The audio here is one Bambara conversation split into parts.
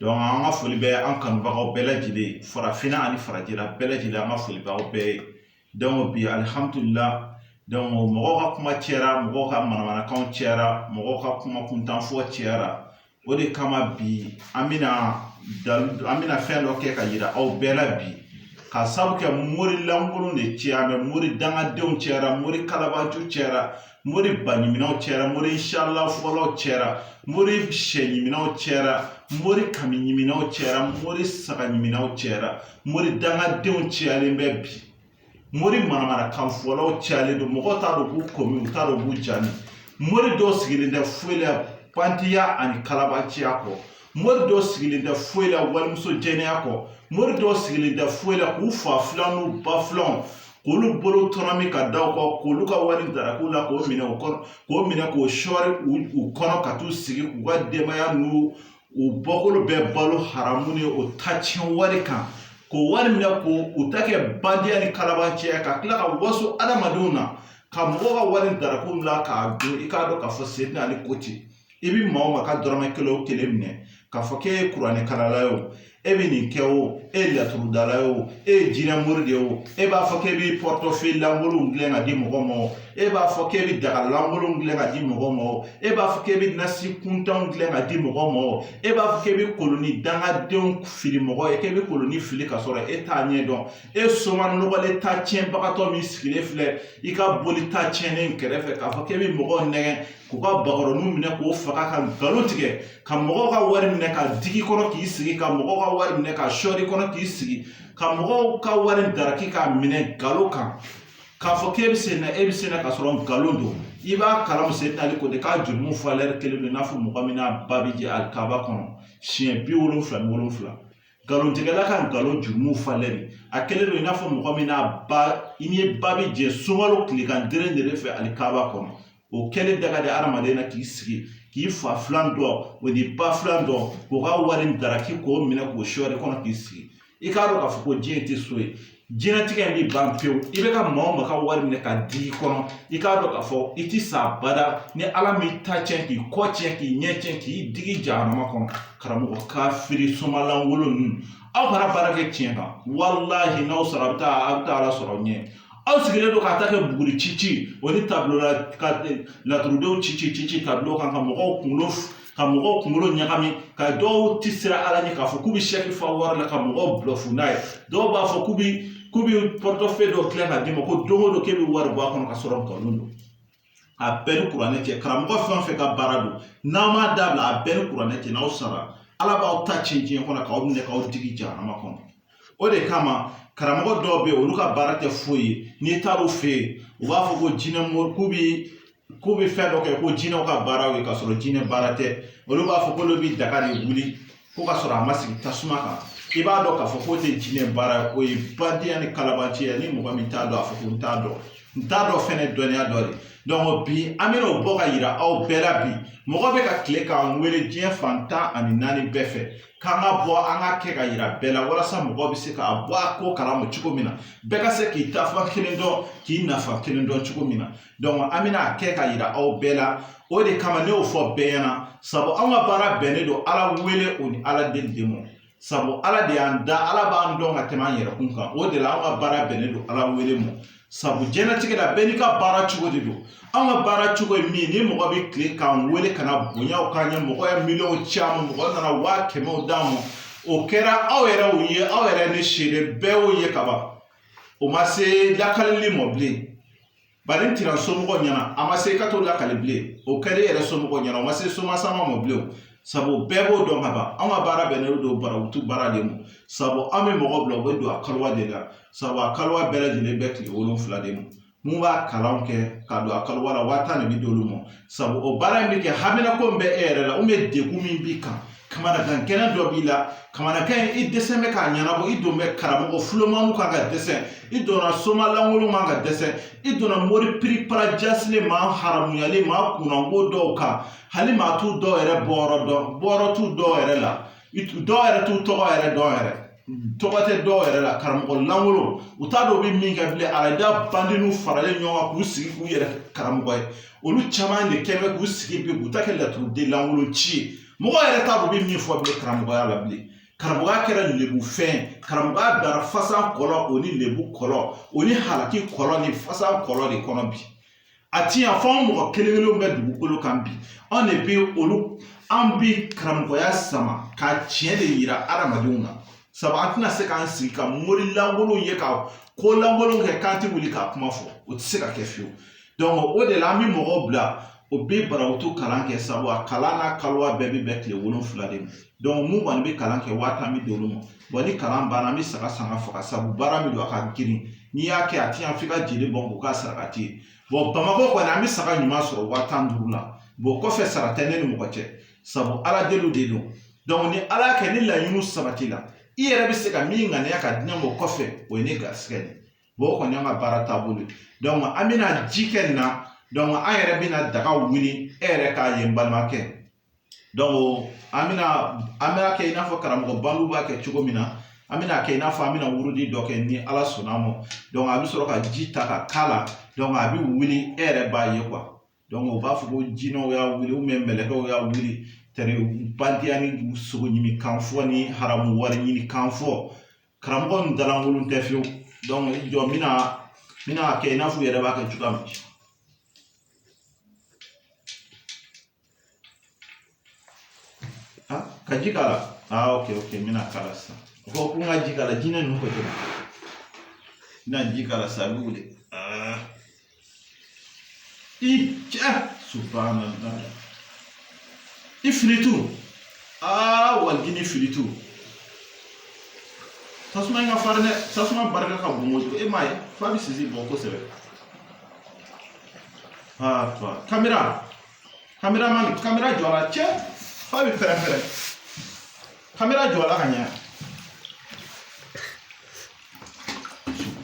an ka foli bɛ an kanubagaw bɛɛ lajɛlen farafinna ani farajɛla bɛɛ lajɛlen an ka foli b'aw bɛɛ ye bi mɔgɔw ka kuma cɛra mɔgɔw ka manamanakan cɛra mɔgɔw ka kuma kuntanfɔ cɛra o de kama bi an bɛna fɛn dɔ kɛ ka yira aw bɛɛ la bi ka sabu kɛ mori lankolon de cɛra mori dangadenw cɛra mori kalabanci cɛra mori baɲiminaw cɛra mori inshalla fɔlaw cɛra mori sɛɲiminaw cɛra mori kamiɲiminaw cɛra mori sagaɲiminaw cɛra mori dangadenw cɛyalen bɛ bi mori manamanakan fɔlaw cɛyalen don mɔgɔw t'a dɔn k'u komi u t'a dɔn k'u jani mori dɔw sigilen tɛ foyi la bandiya ani kalabanciya kɔ mori dɔ sigilen tɛ foyi la walimuso jɛnɛya kɔ mori dɔ sigilen tɛ foyi la k'u fa filan n'u ba filan k'olu bolo tɔnɔmi ka da u kɔ k'olu ka wari darak'u la k'o minɛ k'o sɔɔri u kɔnɔ ka t'u sigi k'u ka denbaya n'u u bɔkolo bɛɛ balo haramu ni o ta tiɲɛ wari kan k'o wari minɛ k'u ta kɛ bandiya ni kalabanciya ka tila ka waso adamadenw na ka mɔgɔw ka wari darak'u la k'a dun i k'a dɔn k'a fɔ seyidina ali ko ten i bi maa o maa ka dɔrɔmɛ kelen o kelen minɛ k'a fɔ k'e ye kuranɛ kalala ye o e bɛ nin kɛ o e ye laturu dala ye o e ye jinɛ mori de ye o e b'a fɔ k'e bɛ portefeuille lankolonw dilan ka di mɔgɔw ma o e b'a fɔ k'e bɛ daga lankolonw dilan ka di mɔgɔw ma o e b'a fɔ k'e bɛ nasi kuntanw dilan ka di mɔgɔw ma o e b'a fɔ k'e bɛ koloni dangadenw fili mɔgɔ ye k'e bɛ koloni fili ka sɔrɔ e t'a ɲɛ dɔn e soma nɔgɔlen ta tiɲɛbagatɔ min sigilen filɛ i ka boli ta tiɲɛnen kɛrɛfɛ k'a fɔ k'e bɛ mɔgɔw nɛgɛn k'u ka bakɔrɔni minɛ k'o faga ka nkalon tigɛ ka mɔgɔw ka wari minɛ ka digi kɔnɔ k'i sigi ka mɔgɔw ka wari minɛ ka sɔɔri kɔnɔ k'i sigi ka mɔgɔw ka wari daraki k'a minɛ nkalon kan k'a fɔ k'e bɛ se na e bɛ se na ka sɔrɔ nkalon don i b'a kalama seyidina ali ko de k'a jurumu valeur kelen don i n'a fɔ mɔgɔ min n'a ba bɛ jɛ alikaba kɔnɔ siɲɛ bi wolonfila ni wolonfila nkalontigɛla ka nkalon jurumu valeur a kelen don i n'a fɔ mɔgɔ min n'a ba i ni ba bɛ jɛ sunkalo tilegan deren deren fɛ alikaba kɔnɔ o kɛlen danga de adamaden na k'i sigi k'i fa filan dɔ o ni ba filan dɔ k'o ka wari daraki k'o minɛ k'o sɔɔri kɔnɔ k'i sigi i k'a dɔn k'a fɔ ko diɲɛ tɛ so ye diɲɛnatigɛ in bɛ ban pewu i bɛ ka maa o maa ka wari minɛ ka digi kɔnɔ i k'a dɔn k'a fɔ i ti sa bada ni ala m'i ta tiɲɛ k'i kɔ tiɲɛ k'i ɲɛ tiɲɛ k'i digi jahanama kɔnɔ karamɔgɔ kafiri soma lankolon ninnu aw ka na baara kɛ tiɲɛ kan walahi n'aw sara a bɛ taa ala sɔrɔ ɲɛ aw sigilen don k'a ta kɛ buguri ci ci o ni tableau ka laturudenw ci ci ci ci tableau kan ka mɔgɔw kunkolo ɲagami ka dɔw ti siran ala ɲɛ k'a fɔ k'u bɛ sɛki fa wari la ka mɔgɔw bluff n'a ye dɔw b'a fɔ k'u bɛ portefeuille dɔ dilan ka d'i ma ko don o don k'e bɛ wari bɔ a kɔnɔ ka sɔrɔ nkalon don A bɛɛ ni kuranɛ cɛ karamɔgɔ fɛn o fɛn ka baara don n'a m'a dabila a bɛɛ ni kuranɛ cɛ n'aw sara Ala b'aw ta cɛn diɲɛ kɔnɔ k'aw minɛ k'aw digi jahanama kɔnɔ o de kama karamɔgɔ dɔw bɛ yen olu ka baara tɛ foyi ye n'i taar'u fɛ yen u b'a fɔ ko jinɛ mori k'u bɛ fɛn dɔ kɛ ko jinɛw ka baaraw ye k'a sɔrɔ jinɛ baara tɛ olu b'a fɔ k'olu bɛ daga de wuli ko ka sɔrɔ a ma sigi tasuma kan i b'a dɔn k'a fɔ k'o tɛ jinɛ baara ye o ye bandiya ni kalabanciya ni mɔgɔ min t'a dɔn a fɔ ko n t'a dɔn n t'a dɔn fɛnɛ dɔnniya dɔ de donc bi an bɛna o bɔ ka yira aw bɛɛ la bi mɔgɔ bɛ ka tile k'an wele diɲɛ fan tan ani naani bɛɛ fɛ k'an ka bɔ an ka kɛ ka yira bɛɛ la walasa mɔgɔ bɛ se k'a bɔ a ko kalama cogo min na bɛɛ ka se k'i taafan kelen dɔn k'i nafan kelen dɔn cogo min na an bɛna a kɛ ka yira aw bɛɛ la o de kama ne y'o fɔ bɛɛ ɲɛna sabu an ka baara bɛnnen don Ala wele o ni Ala deli de ma sabu Ala de y'an da Ala b'an dɔn ka tɛmɛ an yɛrɛkun kan o de la an ka baara bɛnnen don Ala wele ma sabu jɛnlatigɛ la bɛɛ n'i ka baara cogo de don an ka baara cogo ye min ye ni mɔgɔ bɛ kile k'an wele ka na bonyaw k'an ye mɔgɔ ye miliyɔn caman mɔgɔ nana waa kɛmɛw d'an ma o kɛra aw yɛrɛ ye aw yɛrɛ ne seere bɛɛ y'o ye ka ban o ma se lakalili ma bilen bari n tira n somɔgɔw ɲɛna a ma se i ka t'o lakali bilen o kɛra e yɛrɛ somɔgɔw ɲɛna o ma se somasama ma bilen sabu bɛɛ b'o dɔn ka ban anw ka baara bɛnnen don barawutu baara de ma sabu an bɛ mɔgɔ bila u bɛ don a kaliwa de la sabu a kaliwa bɛɛ lajɛlen bɛ tile wolonfila de ma min b'a kalan kɛ ka don a kaliwa la waa tan de bɛ d'olu ma sabu o baara in bɛ kɛ haminako min bɛ e yɛrɛ la ubiyɛn degun min b'i kan kamanagan gɛlɛn dɔ b'i la kamanagan in i dɛsɛ bɛ k'a ɲɛnabɔ i don bɛ karamɔgɔ fulomamu kan ka dɛsɛ i donna soma lankolon kan ka dɛsɛ i donna mori piripara jasilen maa haramuyalen maa kunnanko dɔw kan hali maa t'u dɔw yɛrɛ bɔyɔrɔ dɔn bɔyɔrɔ t'u dɔw yɛrɛ la I tu- dɔw yɛrɛ t'u tɔgɔ yɛrɛ dɔn yɛrɛ tɔgɔ tɛ dɔw yɛrɛ la karamɔgɔ lankolon u t'a dɔn u bɛ min kɛ bilen arada bandiniw faralen ɲɔgɔn kan k'u sigi k'u yɛrɛ kɛ karamɔgɔ ye olu caman de kɛlen bɛ k'u sigi bi k'u ta kɛ laturuden lankolon ci ye mɔgɔ yɛrɛ t'a dɔn u bɛ min fɔ bilen karamɔgɔya la bilen karamɔgɔya kɛra lebu fɛn karamɔgɔya dara fasan kɔlɔ o ni lebu kɔlɔ o ni halaki kɔlɔ ni fasan kɔlɔ de kɔnɔ bi a ti yan fo an mɔgɔ kelen kelenw bɛ dugukolo kan bi anw de bɛ olu an bi karamɔgɔya sama ka tiɲɛ de yira adamadenw na sabu an tɛna se k'an sigi ka mori lankolonw ye ka ko lankolonw kɛ k'an tɛ wuli k'a kuma fɔ o tɛ se ka kɛ fiyewu donc o de la an bɛ mɔgɔw bila o bɛ barawutu kalan kɛ sabu a kalan n'a kaliwa bɛɛ bɛ bɛn tile wolonfila de ma minnu kɔni bɛ kalan kɛ waa tan bɛ d'olu ma wa ni kalan banna an bɛ saga san ka faga sabu baara min don a ka girin n'i y'a kɛ a tɛ ɲɛ f'i ka jeli bɔn k'o k'a sarakati ye bamakɔ kɔni an bɛ saga ɲuman sɔrɔ waa tan ni duuru la kɔfɛ sara tɛ ne ni mɔgɔ cɛ sabu ala deliw de don ni ala y'a kɛ ni laɲiniw sabatila i yɛrɛ bɛ se ka min ŋaniya ka di ne ma o kɔfɛ o ye ne garisigɛ de ye o kɔni y'an ka baara taabolo ye an bɛna ji kɛ nin na an yɛrɛ bɛna daga wuli e yɛrɛ k'a ye n balimakɛ an bɛna an bɛ kɛ i n'a fɔ karamɔgɔ bandiw b'a kɛ cogo min na an bɛna kɛ i n'a fɔ an bɛna wurudi dɔ kɛ ni ala sɔnna a ma a bɛ sɔrɔ ka ji ta ka k'a la a bɛ wuli e yɛrɛ b'a ye u b'a fɔ ko jinɛw y'a wuli mɛlɛkɛw y'a wuli tɛrɛ bandiya ni sogo ɲimi kan fɔ ni haramu wari ɲini kan fɔ karamɔgɔ ninnu da lankolon tɛ fiyewu i jɔ n bɛna n bɛna kɛ i n'a fɔ u yɛrɛ b'a kɛ cogoya min Ah, ka ji k'a la ah ok ok n bɛna k'a la sisan o ko ko n ka ji k'a la jinɛ ninnu ko ten n bɛna ji k'a la sisan a bɛ wuli ah i cɛ subhanallah ifilitu ah walijini ifilitu tasuma in ka farin dɛ tasuma barika ka bon kojugu e m'a ye f'a bɛ sisi bɔ kosɛbɛ ah kamera Kameraman, kamera jɔ a la cɛ f'a bɛ pɛrɛn-pɛrɛn kamera jɔ a la ka ɲɛ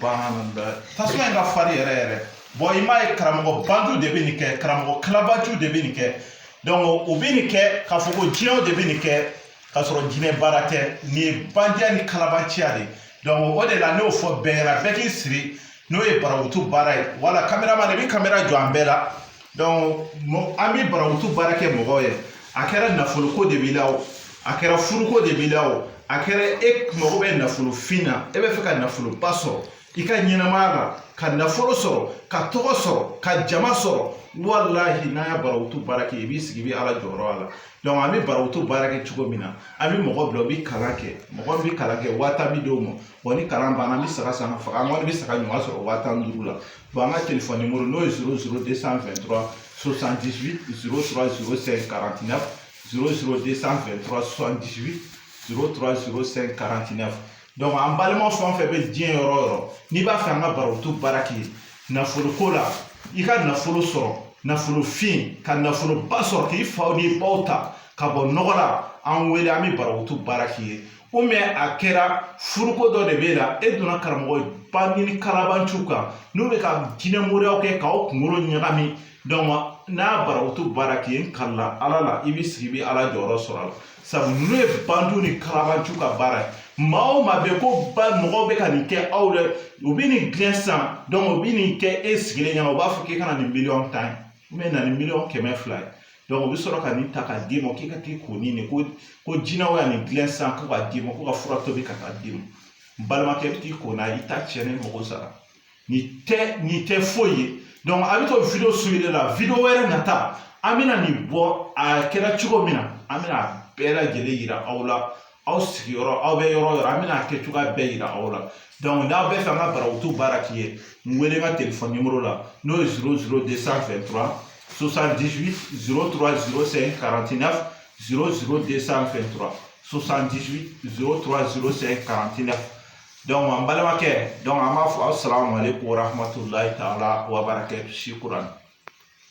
subhanallah tasuma in ka farin yɛrɛ yɛrɛ bon i m'a ye karamɔgɔ bandiw de bɛ nin kɛ karamɔgɔ kalabanciw de bɛ nin kɛ donc u bɛ nin kɛ k'a fɔ ko jinɛw de bɛ nin kɛ k'a sɔrɔ jinɛ baara tɛ nin ye bandiya ni kalabanciya de ye donc o de la ne y'o fɔ bɛɛ ɲɛna bɛɛ k'i siri n'o ye barakutu baara ye voilà kameraman i bɛ kamera jɔ an bɛɛ la an bɛ barakutu baara kɛ mɔgɔw ye a kɛra nafoloko de b'i la o a kɛra furuko de b'i la o a kɛra e mago bɛ nafolo fin na e b'a fɛ ka nafoloba sɔrɔ i ka ɲɛnamaya la ka nafolo sɔrɔ ka tɔgɔ sɔrɔ ka jama sɔrɔ walahi n'an y'a barakutu baara kɛ i b'i sigi i bɛ ala jɔyɔrɔ y'a la an bɛ barakutu baara kɛ cogo min na an bɛ mɔgɔ bila u bɛ kalan kɛ mɔgɔ bɛ kalan kɛ waa tan bɛ d'o ma wa ni kalan banna an bɛ saga san ka faga an kɔni bɛ saga ɲuman sɔrɔ waa tan ni duuru la an ka telefɔni nimɔrɔ n'o ye zéro zéro deux cent vingt-trois soixante-dix-huit zéro trois zéro cinq quarante-neuf zéro zéro deux cent vingt-trois soixante-dix-huit zéro trois zéro cinq quarante-neuf donc an balima fɛn o fɛn bɛ diɲɛ yɔrɔ o yɔrɔ n'i b'a fɛ an ka barakutu baara k'i ye nafoloko la i ka nafolo sɔrɔ nafolo fin ka nafoloba sɔrɔ k'i faw n'i baw ta ka bɔ nɔgɔ la an wele an bɛ barakutu baara k'i ye ou bien a kɛra furuko dɔ de b'e la e donna karamɔgɔ bandi ni kalabanciw kan n'u bɛ ka jinɛ moriyaw kɛ k'aw kunkolo ɲagami n'a barawutu baara k'i ye n kalila ala la i bɛ sigi i bɛ ala jɔyɔrɔ sɔrɔ a la sabu ninnu ye bandiw ni kalabanciw ka baara ye maa o maa bɛ ko ba mɔgɔw bɛ ka nin kɛ aw la u bɛ nin dilan san u bɛ nin kɛ e sigilen ɲɛna u b'a fɔ k'e ka na ni miliyɔn tan ye na ni miliyɔn kɛmɛ fila ye u bɛ sɔrɔ ka nin ta k'a d'i ma k'i ka t'i ko ni nin ko jinɛw y'a nin dilan san ko k'a d'i ma ko ka fura tobi ka taa d'i ma n balimakɛ i bɛ t'i ko n'a ye i t'a tiɲɛ ni mɔgɔ sara nin tɛ foyi ye donc a bɛ to video suivre la video wɛrɛ nata an bɛna nin bɔ a kɛra cogo min na an bɛna a bɛɛ lajɛlen yira aw la aw sigiyɔrɔ aw bɛ yɔrɔ o yɔrɔ an bɛna a kɛ cogoya bɛɛ yira aw la donc n'aw bɛ fɛ an ka barawutu baara k'i ye n wele n ka telefɔni nimoro la n'o ye zéro zéro deux cent vingt-trois soixante-dix-huit zéro trois zéro cinq quarante-neuf zéro zéro deux cent vingt-trois soixante-dix-huit zéro trois zéro cinq quarante-neuf donc an balimakɛ donc an b'a fɔ asalamu aleykum warahmatulahi taala wabarakatu shukran